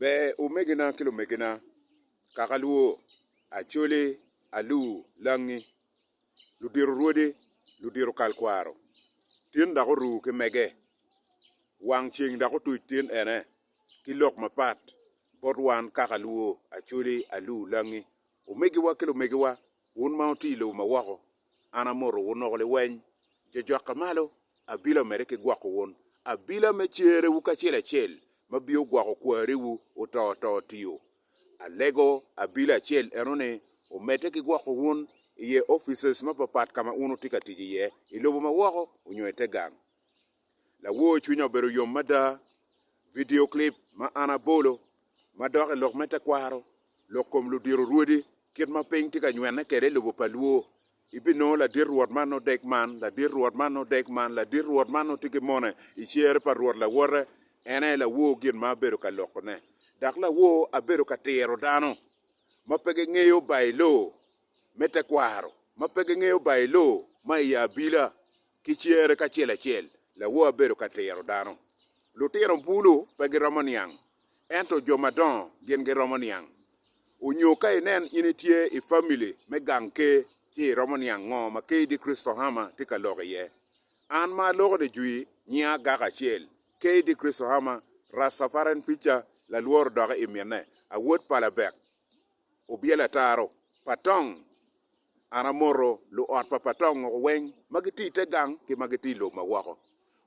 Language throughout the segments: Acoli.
Ber omegina ki lumegina, kaka alwo, acoli, alu, langi, ludito rwodi, ludito kal kwaro, tin dok oru ki mege, wang ceng dok otuc tin ene ki lok mapat bot wan kaka alwo, acoli, alu, langi, omegiwa ki lumegiwa, wun ma wuti i lobo ma woko, An amoto wun woko liweny, jojokka malo, abila omedde ki gwoko wun, abila me cerewu kacel acel, ma biyo gwoko kwariwu oto oto tiyo. Alego abila acel eno ni omedde ki gwoko wun iye offices mapapat kama wun wutye ka tic iye, ilobo ma woko onyo ite gang. Lawor cwinya obedo yom mada! Vidio clip ma an abolo ma dok i lok me tekwaro lok kom ludiro rwodi kit ma piny tye ka nywene kwede i lobo pa Luo. Ibinongo ladit Rwot man odek man, ladit Rwot man odek man, ladit Rwot man otye ki mone i cere pa Rwot lawote. En aye lawor gin ma abedo ka lokone. Dok lawor abedo ka tiro dano ma pe gingeyo Bailo. me tekwaro ma pe gingeyo Bailoo ma iye abila ki cere kacel acel lawor abedo ka tiro dano. Lutino bulu pe giromo niang, ento jo madongo gin giromo niang. Onyo ka inen in itye i famili me gang ker ci iromo niang ngo ma ker di Kristo Hama tye ka loko iye. An ma aloko di jwi nyinga agaka acel, ker di Kristo Hama, Rastafarian Preacher, lalwor odoke i mine, awot pa labek. Obyelo ataro pa Tong. An amoto luot pa pa Tong woko weng ma gitye i te gang ki ma gitye i lobo ma woko.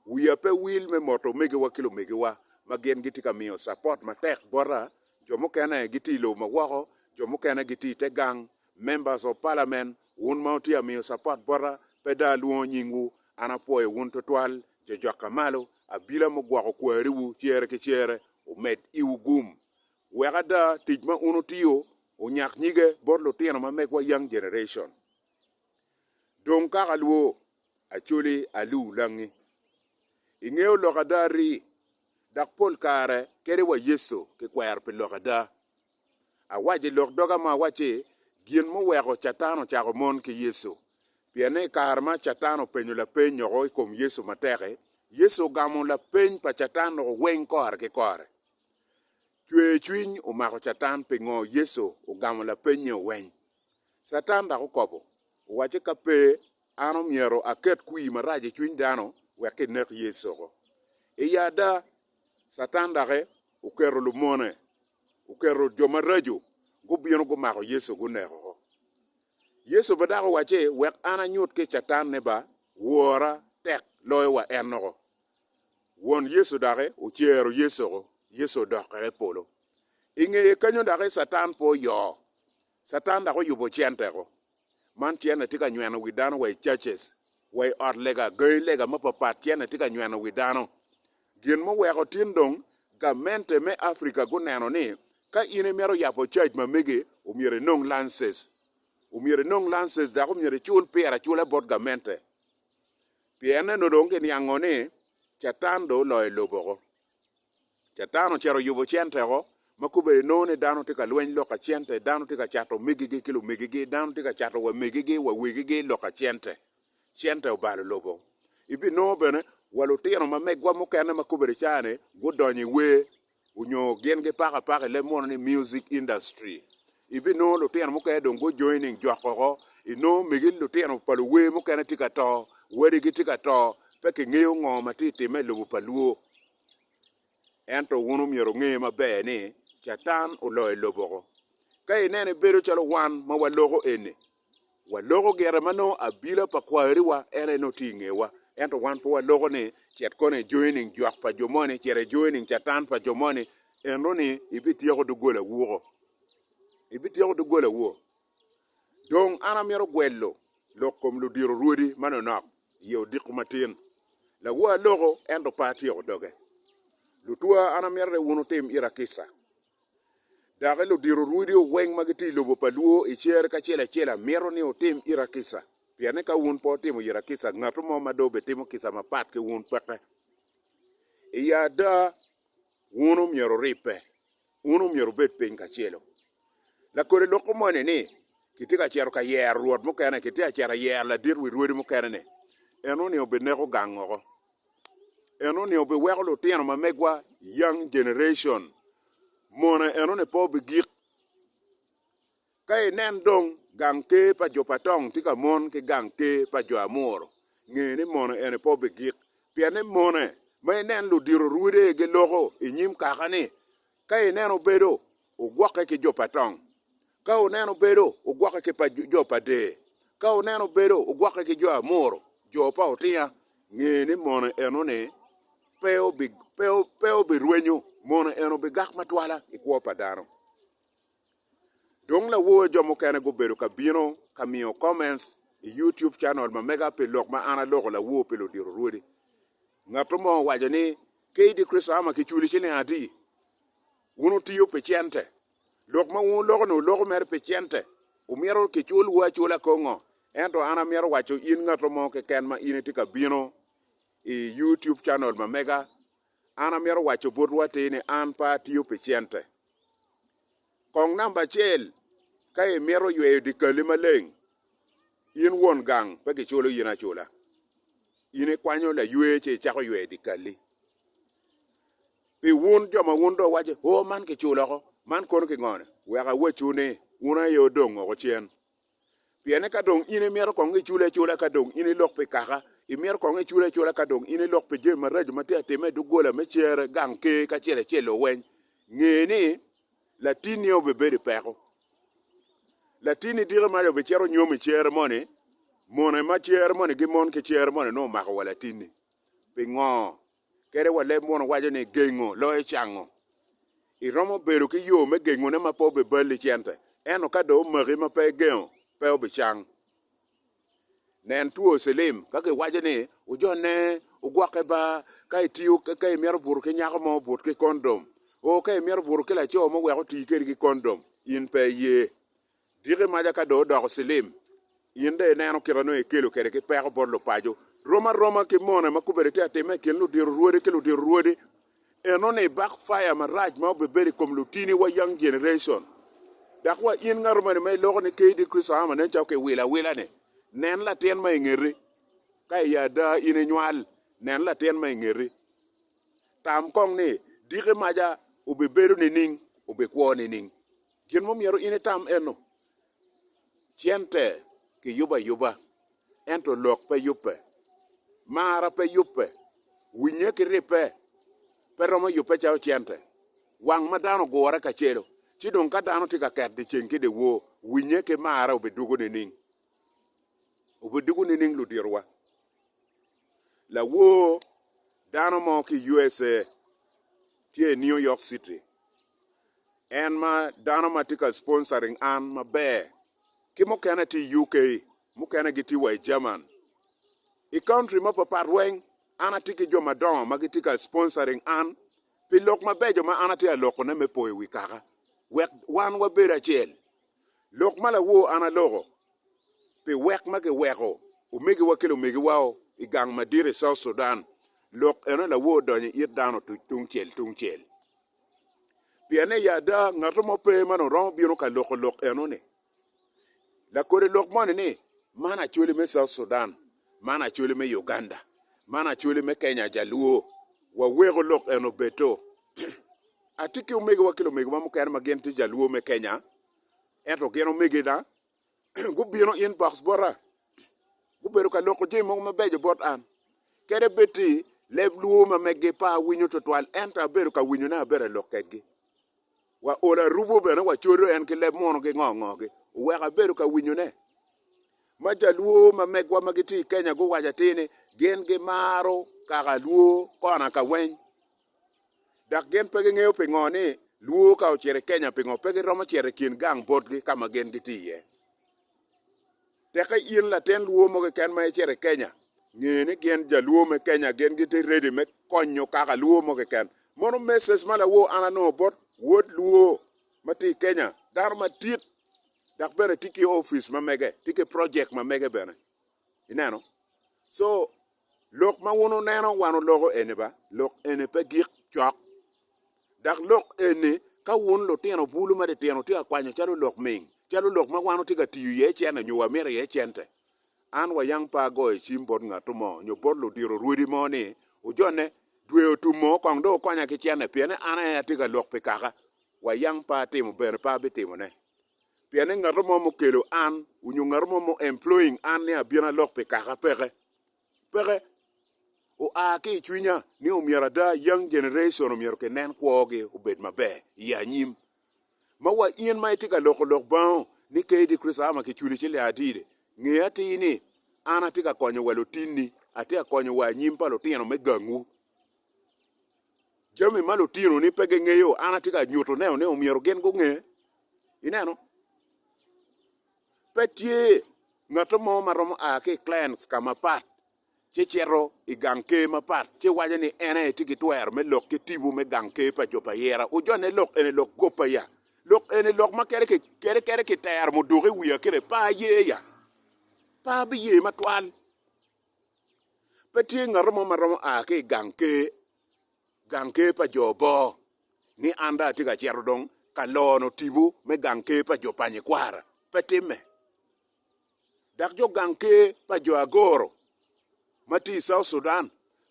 Wiya pe wil me moto omegiwa ki lumegiwa ma gin gitye ka miyo capot matek bota. Jo mukene gitye i lobo ma woko, jo mukene gitye i te gang. Members of Parliament, wun ma wutye ka miyo capot bota, pe dong alwongo nyingwu. An apwoyo wun twatwal, jo jokka malo. Abila mugwoko kwariwu cere ki cere omed iwu gum. Wek ada tic ma un wutiyo onyak nyige bot lutino ma megwa, Young Generation. Dong kaka alwo, Acholi Aluu Langi, ingeyo lok ada ri, dok pol kare kede wa Yecu kikwero pi lok ada. Awaco i lok doga ma awacci gin muweko Catan ocako mon ki Yecu, pien ni i kare ma Catan openyo lapeny noko i kom Yecu matek-ki, Yecu ogamo lapeny pa Catan-nu weng kore ki kore. Cwercwiny omako Catan pingo Yecu ogamo lapenye oweny. Catan dok okobo, owacce ka pe an omyero aket kwir marac i cwiny dano wek kinek Yecuko. I ada, Catan doki oketo lumone, oketo jo maraco gubino gumako Yecu guneko. Yecu be dok owacce wek an anyut ki Catan ni ba wora tek loyo wa ennoko. Won Yecu doki ocero Yecoko, Yecu odok kwede i polo. I ngeye kenyo doki Catan pe oyoo. Catan dok oyubo centeko. Man cene tye ka nyweno wi dano wa i churches, wa i ot lega, gangi lega mapapat cene tye ka nyweno wi dano. Gin muweko tin dong gamente me Africa guneno ni ka in imito yabo church ma mege omyero inong lances. Omyero inong lances dok omyero icul pire acula bot gamente. Pien neno dong kiniango ni Catan dong oloyo lobo woko. Catan ocito oyubo cente woko ma kobedi inongo ni dano tye ka lweny lok ka cente, dano tye ka cato omegigi ki lumegigi, dano tye ka cato wa megigi wa wegigi lok ka cente. Cente obalo lobo. Ibinongo bene wa lutino ma megwa mukene ma kobedi cani gudonyo i wer. onyo gin gipako apaka i leb mono ni music industry ibinongo lutino mukene dong gu joining jok oko inongo megi lutino pa luwer mukene tye ka to, wadigi tye ka to pe kingeyo ngo ma tye timme i lobo pa luo ento wun omyero wunge maber ni catan oloyo lobo oko ka ineno ibedo calo wan ma waloko eni. Waloko gire ma nongo abila pa kwariwa en aye nongo tye i ngewa, ento wan pe waloko ni cit kono ijoyo nining jok pa jo moni, cit ijoyo nining Catan pa jo moni, enoni ibityeko doggolawu oko, ibityeko doggolawu. Dong an amito gwelo lok kom ludiro rwodi manonok i ye odiko matin. Lawor loko ento pe atyeko doge. Lutwa, an amito ni wun wutim ira kica Doki ludito rwodeo weng ma gitye i lobo pa Luo i cer ki acel acel amito ni wutim ira kica, pien ni ka wun pe wutimo ira kica, ngatu mo ma dong obitimo kica mapat ki wun peke. I ada, wun omyero wuribbe, wun omyero wubed piny kacelo. Lakode loko moni ni, Kitye ka cito ka yero rwot mukene, kitye ka cito yero ladit wi rwodi mukene-ni, en onongo obineko gang woko. enoni obiweko lutino ma megwa young generation mona enoni pe obigik ka inen dong gang ker pa jo pa tong tye ka mon ki gang ker pa jo amuru nge ni mona eni pe obigik pien ni mone ma inen ludito rwode giloko inyim kakani Ka ineno bedo, ogwokke ki jo pa tong. Ka wuneno bedo, ogwokke ki pa jo pa dee. Ka wuneno bedo, ogwokke ki jo Amoro, jo pa otinga. Nge ni mono eno-ni pe obirwenyo, mono eno bigak matwala i kwo pa dano. Dong lawoyo jo mukene gubedo ka bino ka miyo comments i YouTube channel ma mega pi lok ma an aloko lawo pi ludito rwodi. Ngato mo owaco ni, KD Chris Hammer kiculi ciling adi? Wun wutiyo pi cente? Lok ma wun wuloko ni wuloko mere pi cente? Wumito kicul wu acula kongo? Ento an amito waco in ngato mo keken ma in itye ka bino i YouTube channel ma mega, an amito waco botwu atir ni an pe atiyo pi cente. Kong namba acel, ka imito yweyo dyekali maleng, in won gang pe kiculo in acula. In ikwanyo laywer ci icako yweyo dyekali. Pi wun jo ma wun dong iwaco ni, 'Oo, man kiculo oko, man kono kingo-ni? Wek awacwu ni, wun aye odong woko cen. Pienne ka dong in imito kong icule acula ka dong in ilok pi kaka, imito kong icule acula ka dong in ilok pi jami maraco ma tye ka timme i doggola me cere, gang ker ki acel acel-lo weny, nge ni latinni obibedo i peko. Latinni diki maca obicito onyom i cere moni, mone ma cere moni gimon ki cere moni nongo omako wa latinni. Pingo? Kadi wa leb Muno waco ni gengo loyo cango. Iromo bedo ki yo me gengone ma pe obiballi cente, ento ka dong omaki ma pe igengo, pe obicang. Nen two cilim. Ka giwaco ni ojone, ogwokke ba. Ka itiyo, ka imito buto ki nyako mo, but ki kondom. Oo, ka imito buto ki laco mo wek oti kwedi ki kondom, in pe iye. Diki maca ka dong odoko cilim, in dong ineno kit ma nongo ikelo kwede ki peko bot lupaco. Rom aroma ki mone ma kobedi itye ka timme i kin ludito rwodi ki ludito rwodi, enoni backfire marac ma obibedo i kom lutini wa young generation. Dok wa in ngato moni ma iloko ni KD Christo Ama nen calo kiwilo awila ni, nen latin ma ingeti, ka i ada in inywal, nen latin ma ingeti. Tam kong ni, 'Diki maca obibedo nining? Obikwo nining? Gin mo myero in itam eno, Cente kiyubo ayuba, ento lok pe yubbe. Marra pe yubbe. Winye ki ribbe pe romo yubbe calo cente. Wang ma dano ogure kacelo, ci dong ka dano tye ka ket dyeceng ki dyewor, winye ki marra obidwogo nining? Obidwogo nining luditowa? Lawor dano mo ki i USA tye i New York City, en ma dano ma tye ka sponsoring an maber ki mukene tye i UK, mukene gitye wa i German. I country mapapat weng an atye ki jo madongo ma gitye ka sponsoring an pi lok mabeco ma an atye ka lokone me poyo wi kaka wek wan wabed acel. Lok ma lawor an aloko. pi wek ma giweko omegiwa ki lumegiwao i gang madit i South Sudan, lok eno lawor donyo it dano otuc tungcel tungcel. Pien ni ada ngato mo pe ma dong romo bino ka loko lok eno-ni. Lakode lok moni ni, Man Acholi me South Sudan, man Acholi me Uganda, man Acholi me Kenya Jaluo, waweko lok eno obedo. Atye ki omegiwa ki lumegiwa mukene ma gin tye Jaluo me Kenya, Ento gin omegina gubino inbox bota, gubedo ka loko jami mogo mabeco bot an. Kede bed ti leb luo ma meggi pe awinyo twatwal ento abedo ka winyone abedo alok kedgi. Wa olo arubo bene wa codo en ki leb mono gi ngo ngo gi oweko abedo ka winyone. Ma ja luo ma megwa ma giti i Kenya guwaco atir ni gin gimaro kaka luo kona ka weny. dok gin pe gingeyo pingo ni Luo ka ocito i Kenya pingo pe giromo cito i kin gang botgi ka ma gin gitye iye. Teke in latin Luo mo keken ma icito i Kenya, nge ni gin ja Luo me Kenya gin gitye ready me konyo kaka Luo mo keken. Mono message ma lawor an anongo bot wod Luo ma tye i Kenya, dano madit dok bene tye ki office ma mege, tye ki project ma mege bene. Ineno? So. Lok ma wun wuneno wan wuloko eni ba, lok eni pe gik cok. Dok lok eni, ka wun lutino bulu ma titino wutye ka kwanyo calo lok ming, calo lok ma wan watye ka tiyo iye cente nyo wamito iye cente, an wayang pe agoyo cim bot ngat mo nyo bot ludiro rwodi mo ni, 'Wujone, dwe otum oo, kong dong wukonya ki cente, pien ni an aye atye ka lok pi kaka. Wayang pe atimo, bene pe abitimone. pien ni ngato mo mukelo an onyo ngato mo mu employing an ni abin alok pi kaka peke. Peke. Oa ki i cwinya ni omyero ada young generation omyero ki nen kwo gi obed maber i anyim. Ma wa in ma itye ka loko lok bango ni KD Chris Ama ki culi ci le adide, nge atir ni an atye ka konyo wa lutinni, atye ka konyo wa anyim pa lutino me gangwu. Jami ma lutinoni pe gingeyo, an atye ka nyutoneo ni omyero gin gunge. Ineno? Pe tye ngat mo ma romo a ki i clans ka mapat ci cito i gang ker mapat ci waco ni en aye tye ki twero me lok ki tibu me gang ker pa jo pa Yera. Ojone lok eni lok kop aya? Lok eni lok ma kadi ki kadi kadi kitero muduki wiya kire pe aye ya? Pe abiye matwal. Pe tye ngat mo ma romo a ki i gang ker, gang ker pa jo bor, ni an dong atye ka cito dong ka lono tipo me gang ker pa jo pa nyikwara. Pe timme! Dok jo gang ker pa jo Agoro ma tye i South Sudan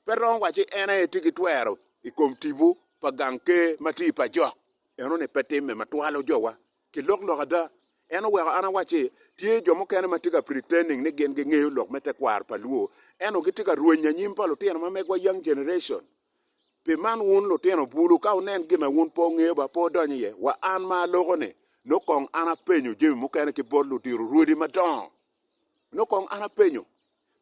pe romo wacci en aye tye ki twero i kom tipo pa gang ker ma tye i pajok. Enoni pe timme ma twalo jowa Ki lok lok ada, en oweko an awac ni, tye jo mukene ma tye ka pretending ni gin gingeyo lok me tekwaro pa Luo, ento gitye ka rweny anyim pa lutino ma megwa, young generation. Pi man wun lutino bulu, ka wunen gin ma wun pe wungeyo ba pe wudony iye. Wa an ma aloko-ni, nongo kong an apenyo jami mukene ki bot ludiro rwodi madongo. Nongo kong an apenyo,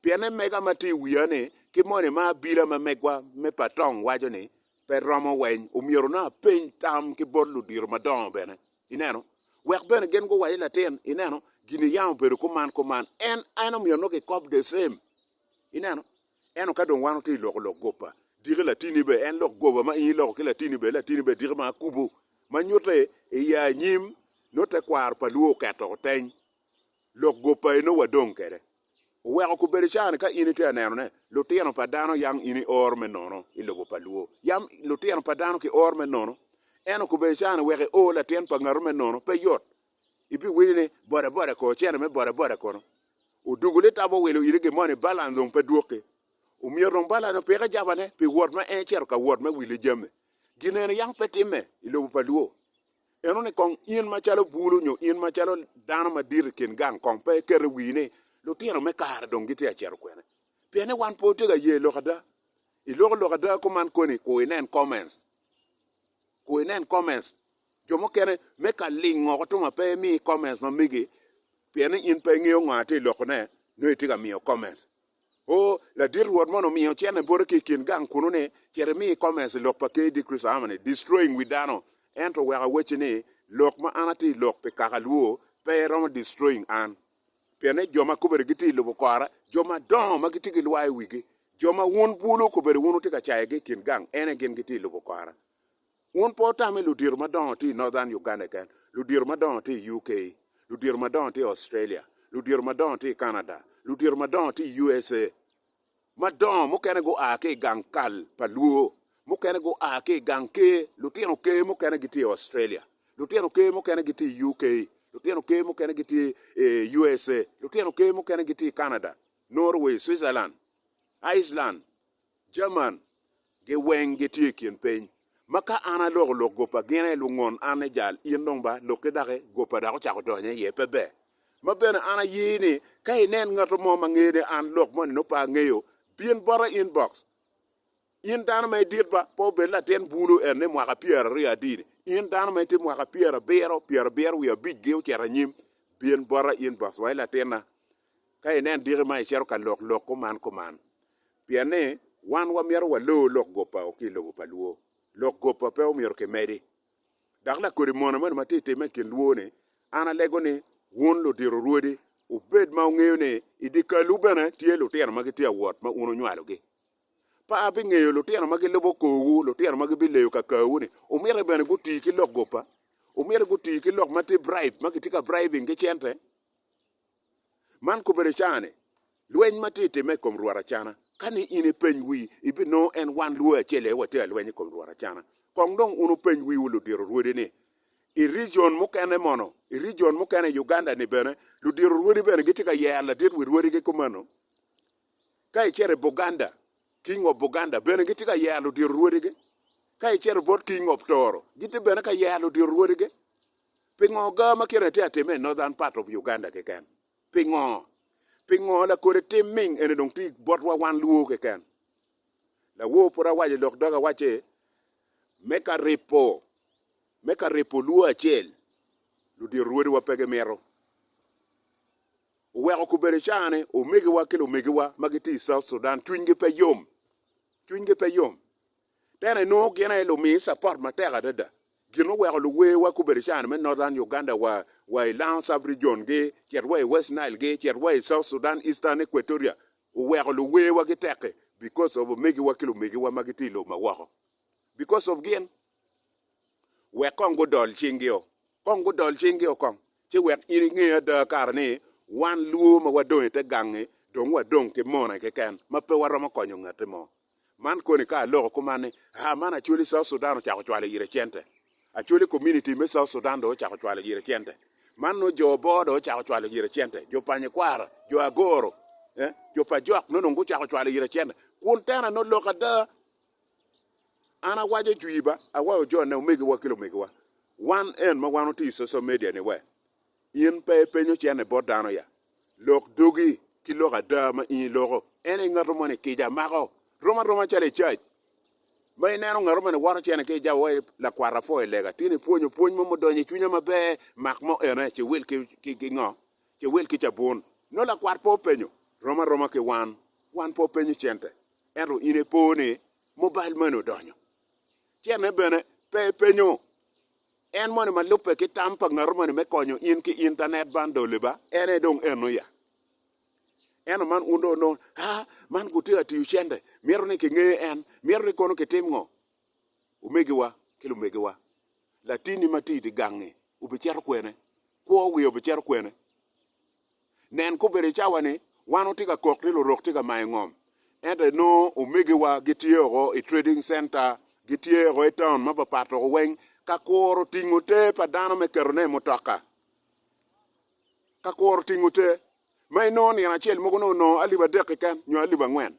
Pien emega ma tye i wiya ni ki moni ma abila ma megwa me patong waco ni pe romo weny omyero nongo apeny tam ki bot ludiro madongo bene, ineno, wek bene gin guwac ni latin, ineno, gini yam obedo kuman kuman, en, en omyero nongo kikob the same, ineno. Ento ka dong wan watye i loko lok goba, diki latini be en lok goba ma in iloko ki latini be latini be diki ma akubo ma nyutte i ya anyim nongo tekwaro pa lwor oketo oteny lok gop pa eno wa dong kede. Oweko kubedo ca ni ka in itye aneno ne lutino pa dano yang in ior me nono ilobo pa luo yam lutino pa dano ki or me nono eno kubedo ca ni wek i or latin pa ngatu me nono pe yot ibi winyo ni boda boda ko cene me boda boda kono odugu litabo owilo iti gi moni balance dong pe dwoki omyero dong balance opike jaba ne pi wot ma en cito ka wot me wile jami gin eno yang pe time ilobo pa luo Eno ni kong in macalo bulu nyo in macalo dano madit i kin gang kong pe iketo wii ni, 'Lutino me kare dong gitye ka cito kwene? Pien ni wan pe watye ka ye lok ada. I loko lok ada kuman koni, ku inen comments. Ku inen comments. Jo mukene me ka ling woko tuma pe imi comments ma megi pien ni in pe ingeyo ngo atye lokone nyo itye ka miyo comments. O, ladit Rwot mono omiyo cene bote ki i kin gang kunnu ni, Cit imi i komes i lok pa Ker Dikric aa mani, destroying wi dano, ento wek awecci ni, lok ma an atye i lok pi kaka alwoo pe romo destroying an. Pien ni jo ma kobere gitye i lubo kora, jo madongo ma gitye ki lwar i wigi, jo ma wun bulu kobere wun wutye ka cayogi i kin gang, ene gin gitye i lubo kora. Wun pe wutame ludito madongo tye i Northern Uganda keken, ludito madongo tye i UK, ludito madongo tye i Australia, ludito madongo tye i Canada, ludito madongo tye i USA. Madongo mukene gua ki i gang kal pa Luo, mukene gua ki i gang ker, lutino ker mukene gitye i Australia, lutino ker mukene gitye i UK, lutino ker mukene gitye i USA, lutino ker mukene gitye i Canada, Norway, Switzerland, Iceland, Jerman, Gi weng gitye i kin piny. Ma ka an aloko lok gopa gine lungon an ni jal in dong ba loki daki gopa dok ocako donyo iye pe ber. Ma bene an aye ni ka inen ngato mo ma ngeyo ni an lok moni nongo pe angeyo bin bota inbox in dano ma idit ba pe obed latin bulu en ni mwaka pyera aryo adini in dano ma itye mwaka pyera abiro pyera abiro wiye abic gi ocito anyim bin bota inbox wa i latinna ka inen diki ma icito ka lok lok kuman kuman Pien ni wan wamyero waloo lok goppa o ki i lobo pa lwor. Lok goppa pe omyero kimedi. Dok lakodi mona moni ma tye timme i kin lwor ni, An alego ni wun ludito rwodi wubed ma wungeyo ni i dyekal-wu bene tye lutino ma gitye awot ma wun wunywalogi. Pa abingeyo lutino ma gilubo korwu, lutino ma gibileyo kakawu ni, omyero bene guti ki lok goppa, omyero guti ki lok ma tye bribe, ma kitye ka bribing ki cente. Man kobere caane, lweny ma tye timme i kom lworo acana. Ka ni in ipeny wii, ibinongo en wan lwee acel aye watye ka lweny i kom lworo acana. Kong dong wun wupeny wiwu ludiro rwodi ni, i region mukene mono, i region mukene i Uganda ni bene, ludiro rwodi bene gitye ka yero ladit wi rwodigi kumeno? Ka icito i Buganda, King of Buganda bene gitye ka yero ludito rwodigi. Ka icito bot King of Toro, gitye bene ka yero ludito rwodigi. Pingo gar ma kite-ni tye ka timme i Northern part of Uganda keken? Pingo? Pingo lakode tim ming eni dong tye botwa wan Luo keken? Lawor pud awaco lok doga awacci, me ka ripo, me ka ripo Luo acel, ludito rwodiwa pe gimito. oweko kobedo cawa ni omegiwa ki lumegiwa ma gitye i South Sudan cwinygi pe yom, cwinygi pe yom. Tena inongo gin aye lumiyi support matek adada. Gin ma oweko luwewa kobedo cawa ni me Northern Uganda wa, wa i Lango Sub Region gi, cit wa i West Nile gi, cit wa i South Sudan, Eastern Equatoria, oweko luwewa gitek-ki because of omegiwa ki lumegiwa ma gitye i lobo ma woko. because of gin, wek kong gudol cinggi o, kong gudol cinggi o kong, ci wek in inge ada kara ni wan lwo ma wadong i te gangi dong wadong ki mone keken ma pe waromo konyo ngati mo. Man koni ka aloko kuman ni, aa man Acholi South Sudan ocako cwalo ire cente, Acholi community me South Sudan dong ocako cwalo ire cente, man nongo jo bor dong ocako cwalo ire cente, jo pa nyikwara, jo Agoro, eh, jo pa jok nongo gucako cwalo ire cente, kun tena ni oloko ada. An awaco jwi ba awaco jone omegiwa ki lumegiwa wan en ma wan otiyo i social media ni we in pe ipenyo cene bot dano ya lok dogi ki lok ada ma in iloko en aye ngato moni kica mako rom aroma calo i church ma ineno ngato moni woto cene ki ijabo wai lakwata pwoyo lega tini pwonyo pwony mo mudonyo i cwinya maber mak mo ene ci wil ki ngo Cewel ki cabun. Nongo lakwat pe openyo, Rom aroma ki wan? Wan pe openyo cente. Ento in ipo ni mobile money odonyo. Cene bene pe epenyo. En moni ma lubbe ki tam pa ngatu moni me konyo in ki internet bundle-li ba? En aye dong eno ya. Ento man wun dong onongo, Haa, man gutye ka tiyo cente. Mito ni kingeyo en. Mito ni kono kitim ngo? omegiwa ki lumegiwa, latinni ma tye i dye gangngi obicito kwene? Kwo wiye obicito kwene? Nen, kobedo i cawa-ni, wan watye ka kok ni lurok tye ka mayo ngom, ento inongo omegiwa gitye woko i trading center, gitye woko i taun mapapat woko weng ka kuro tingo te pa dano me ketone i mutoka, ka kuro tingo te. Ma inongo nino acel mogo nongo alip adek keken nyo alip angwen.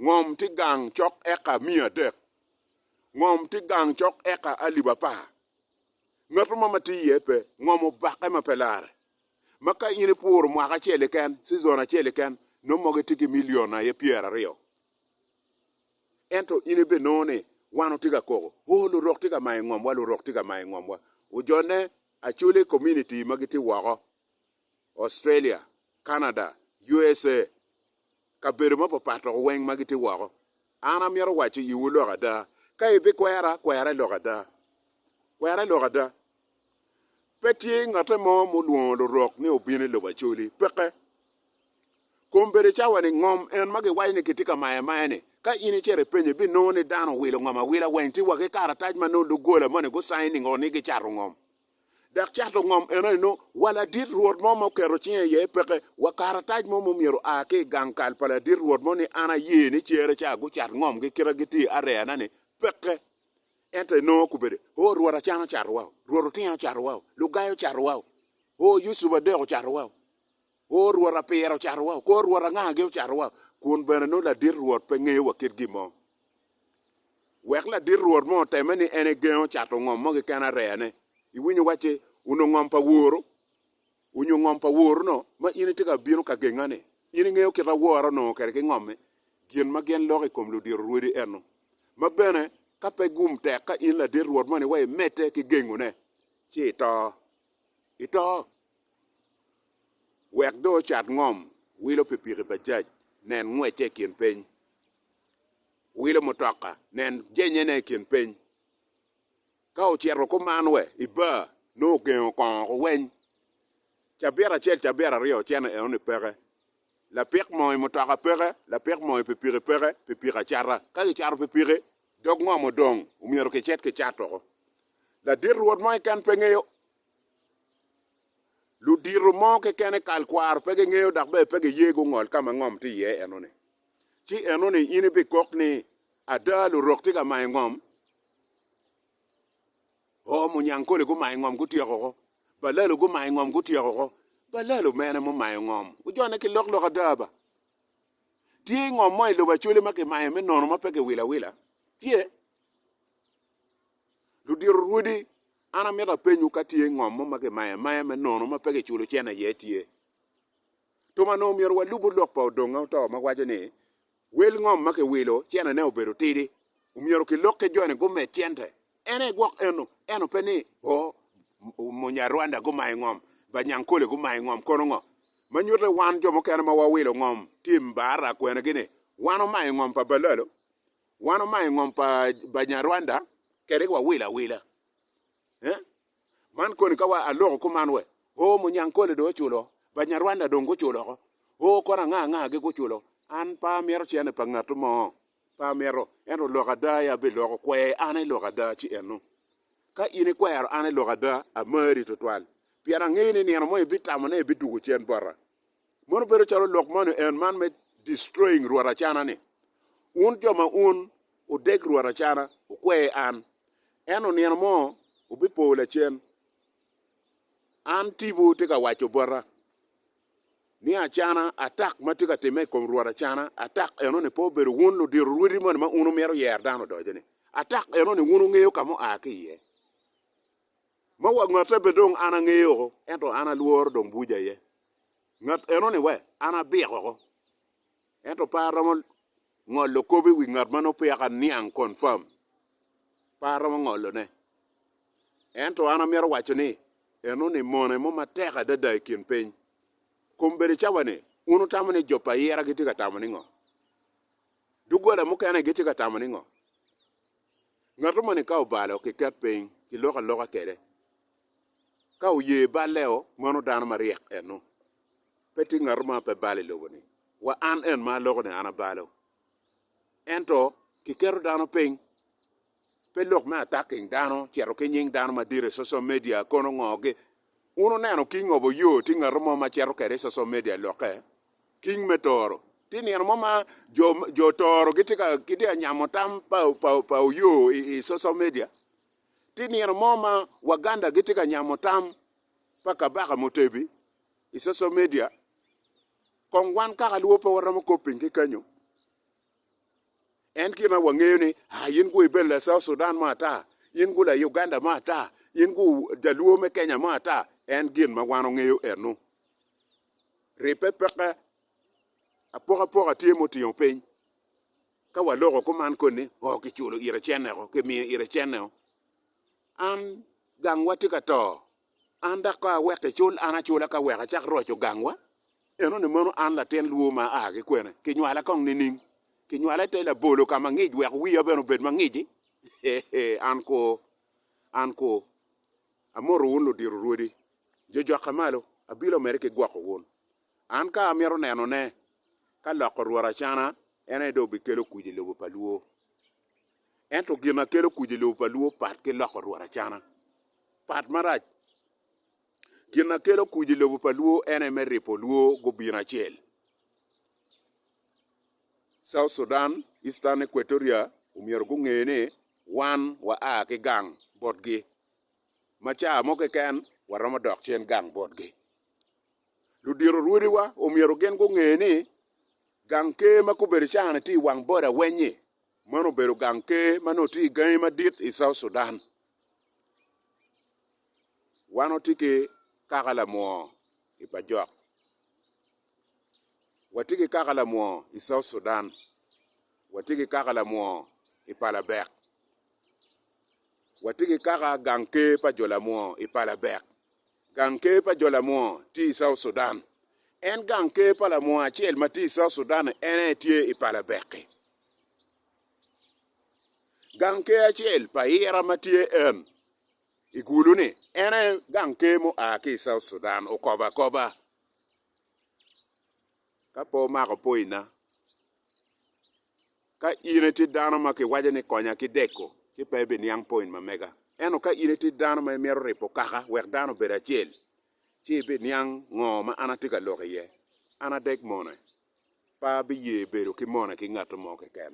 Ngom tye gang cok eka miya adek. Ngom tye gang cok eka alip apar. Ngat mo ma tye iye pe ngomo bakke ma pe larre. Ma ka in ipuro mwaka acel keken, cizon acel keken, nongo mogo itye ki milion aye pyeraryo. Ento in ibinongo ni wan watye ka koko, Oo, lurok tye ka mayo ngomwa, lurok tye ka mayo ngomwa. Ojone Acholi Community ma gitye woko, Australia, Canada, USA, kabedo mapapat loko weng ma gitye woko. An amito waco iwu lok ada, ka ibikwera, kwere lok ada. Kwere lok ada. Pe tye ngotte mo mulwongo lurok ni obino i lobo Acholi. Peke. Kom bedo cawa-ni ngom en ma giwaco ni kitye ka maye amaye-ni. Ka in icito ipenyo, ibinongo ni dano owilo ngom awila weng tye wa ki karatac ma nongo doggola moni gucainningo ni gicato ngom. dok cato ngom enoni nongo wa ladit Rwot mo ma oketo cinge iye peke, wa karatac mo ma omyero oa ki i gang kal pa ladit Rwot mo ni an aye ni cere ca gucat ngomgi kite gitye areyana-ni peke. Ento enongo okobbe-de, Oo, Rwot Acan ocato wau, Rwot Otinga ocato wau, Lugai ocato wau, Oo, Yucup Adek ocato wau, Oo, Rwot Apira ocato wau, Kor Rwot Angagi ocato wau, kun bene nongo ladit Rwot pe ngeyo wa kit gin mo. Wek ladit rwot mo otemme ni en egengo cato ngom mo keken areyane. Iwinyo wacce, onongo ngom pa woro, onyo ngom pa woro-no ma in itye ka bino ka genga-ni. In ingeyo kit awora onongo kede ki ngomme, gin ma gin loko i kom ludiro rwodi eno. Ma bene, ka pe gum tek ka in ladit rwot moni wa imedde ki gengone, ci ito. Ito! wek dong ocat ngom wilo pikipiki Bajaj, nen ngwecce i kin piny, wilo mutoka, nen jenyene i kin piny. Ka ocito kuman wa i bar, nongo ogengo kongo woko weny. Cabit acel, cabit aryo ocene enoni peke. Lapik moo i mutoka peke, lapik moo i pikipiki peke, pikipiki acata. Ka kicato pikipiki, dog ngom odong, omyero kicit kicat woko. Ladit rwot mo keken pe ngeyo Ludito mo kekene kal kwaro pe gingeyo dok bene pe giye gungol ka ma ngom tye iye enoni. Ci enoni in ibikok ni, 'Ada, lurok tye ka mayo ngom. Oo, munyankole gumayo ngom gutyeko woko. Balalo gumayo ngom gutyeko woko. Balalo mene mumayo ngom? Ojone ki loklok ada ba. Tye ngom mo i lobo Acholi ma kimayo me nono ma pe kiwilo awila? Tye. Ludito rwodi, an amito apenyu ka tye ngom mo ma kimayo amaya me nono ma pe kiculo cen aye tye. Tum anongo myero walubu lok pa odonga oto ma waco ni wel ngom ma kiwilo cene ne obedo tidi omyero kilok ki joni gumed cente. En aye gwok eno, eno pe ni oh Munyarwanda gumayo ngom, Banyankole gumayo ngom kono ngo. Ma nyutte wan jo mukene ma wawilo ngom tim bar akwena gi ni wan omayo ngom pa Balalo Wan omayo ngom pa Banyarwanda kede wa wilo awila. Eh? Man koni ka wa aloko kuman we? Oh Munyankole do oculo, Banyarwanda dong guculo ko. Oh kono anga anga gi guculo. An pe amito cene pa ngatu mo. Pe amito. Ento lok ada aye abiloko. Kwe an ilok ada ci eno. Ka in ikwero an ilok ada, amari tutwal. Pien angeyo ni nino mo ibitamone ibidugo cen bota. Mono bedo calo lok moni en man me destroying rwot acana ni, Un jo ma un odeg rwot acana, wukwe an, ento nino mo wubipo lacen, an tipo tye ka waco bota ni acana, atak ma tye ka timme i kom rwot acana, atak eno ni pe obedo wun ludiro rwodi moni ma un wumito yer dano odoco ni, atak eno ni wun wungeyo ka mua ki iye, ma wa ngatte pe dong an angeyo ento an alworo dong buja iye, ngat eno-ni wa, an abik oko. Ento pe aromo ngolo kop i wi ngat ma nongo peya ka niang, confirm. Pe aromo ngolone. Ento an amito waco ni, eno-ni mone mo matek adada i kin piny. Kombedo cawa-ni, wun wutamo ni jo pa ayira gitye ka tamo ningo? Doggola mukene gitye ka tamo ningo? Ngatu moni ka obalo, kiket piny, kilok aloka kede, Ka oye balleo, mano dano maryek ennu. Pe tye ngatu ma pe balo i lobo-ni, wa an en ma aloko ni an abalo. Ento kiketo dano piny, pe lok me attacking dano, cito ki nying dano madit i social media, kono ngogi. Wun wuneno king of Oyo tye ngatu mo ma cito kwede i social media lokke? King me Toro. Tye nino mo ma jo, jo Toro gitye ka, gitye ka nyamo tam pa, pa, pa Oyo i, i social media? Tye nino mo ma Waganda gitye ka nyamo tam pa Kabaka Mutebi i social media, kong wan kaka luo pe waromo kop piny ki kenyo. En kit ma wangeyo ni ah in gu ibedo la South Sudan mo ata, in gu la Uganda mo ata, in gu Jaluo me Kenya mo ata, en gin ma wan wangeyo eno. Ribbe peke apokapoka tye mutingo piny Ka waloko kuman koni o ki culo ire cenneo, ki miyo ire cenneo, an gangwa tye ka to, an dak ka awek icul an acula ka wek acak roco gangwa, enoni mono an latin lwur ma aa ki kwene, kinywala kong nining? Kinywala ite labolo ka ma ngic wek wiya bene obed ma ngic-ci? Hee, an kwo, an kwo. Amoto wun ludiro rwodi, jojokke malo, abilo mere ki gwoko wun. An ka amito nenone, ka loko Rwot acana, en aye dong obikelo kuc i lobo pa Luo. Ento gin ma kelo kuc i lobo pa Luo pat ki loko Rwot acana. Pat marac. Gin ma kelo kuc i lobo pa Luo en aye me ripo Luo gubino acel. South Sudan, Eastern Equatoria omyero gunge ni wan wa a ki gang botgi, ma ca mo keken waromo dok cen gang botgi. ludito rwodiwa omyero gin gunge ni gang ker ma gubedo caa-ni tye i wang boda weny-nyi, meno obedo gang ker ma nongo tye i gangi madit i South Sudan. Wan watye ki kaka lamwoo i Bajok, watye ki kaka lamwoo i South Sudan, watye ki kaka lamwoo i Palabek, watye ki kaka gang ker pa jo lamwoo i Palabek, Gang Ker pa jo lamwor tye i South Sudan. En gang ker pa lamwor acel ma tye i South Sudan en aye tye i pala Beki. Gang ker acel pa ira ma tye en i Gulu-ni en aye gang ker mu a ki i South Sudan, okobo akoba. Ka pe omako poina, ka in itye dano ma kiwaco ni konya ki deko, ci pe ibiniang poin ma mega. Ento ka in itye dano ma imito ribo kaka wek dano obed acel, ci ibiniang ngo ma an atye ka lok iye. An adek mone, pe abiye bedo ki mone ki ngat mo keken.